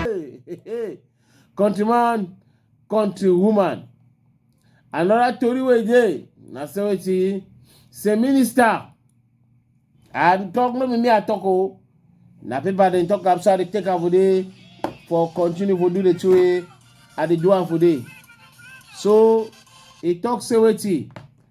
Hey, hey, hey. Countryman, countrywoman. Another story we dey na say wetin say minister and talk no be me I talk o na paper dem talk am so I dey take am for dey for continue for do the two way I dey do am for dey so he talk say wetin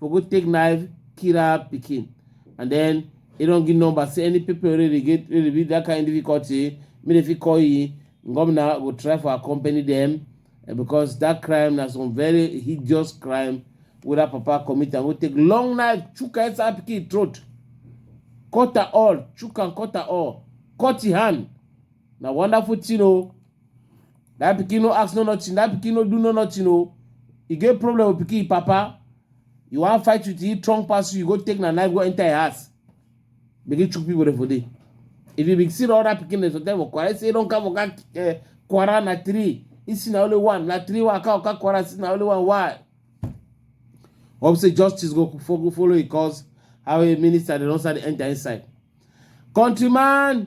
for go take knife kill her pikin and then e don give number say any people wey dey get wey dey be that kind difficulty make dem fit call e governor go try for accompany dem eh, because that crime na some very hideous crime wey that papa commit am wey take long knife chook her inside her pikin throat cut her all chook am cut her all cut e hand na wonderful thing o that pikin no ask no nothing that pikin no do no nothing o e get problem with pikin papa you wan fight with him strong pass you you go take na knife go enter him house begin chook people for there if you be see all that pikin dem for tell for kwara say don come oga uh, kwara na three he see na only one na three waka oga kwara see na only one why hope say justice go fo- follow him cause how a minister dey don start dey enter inside countryman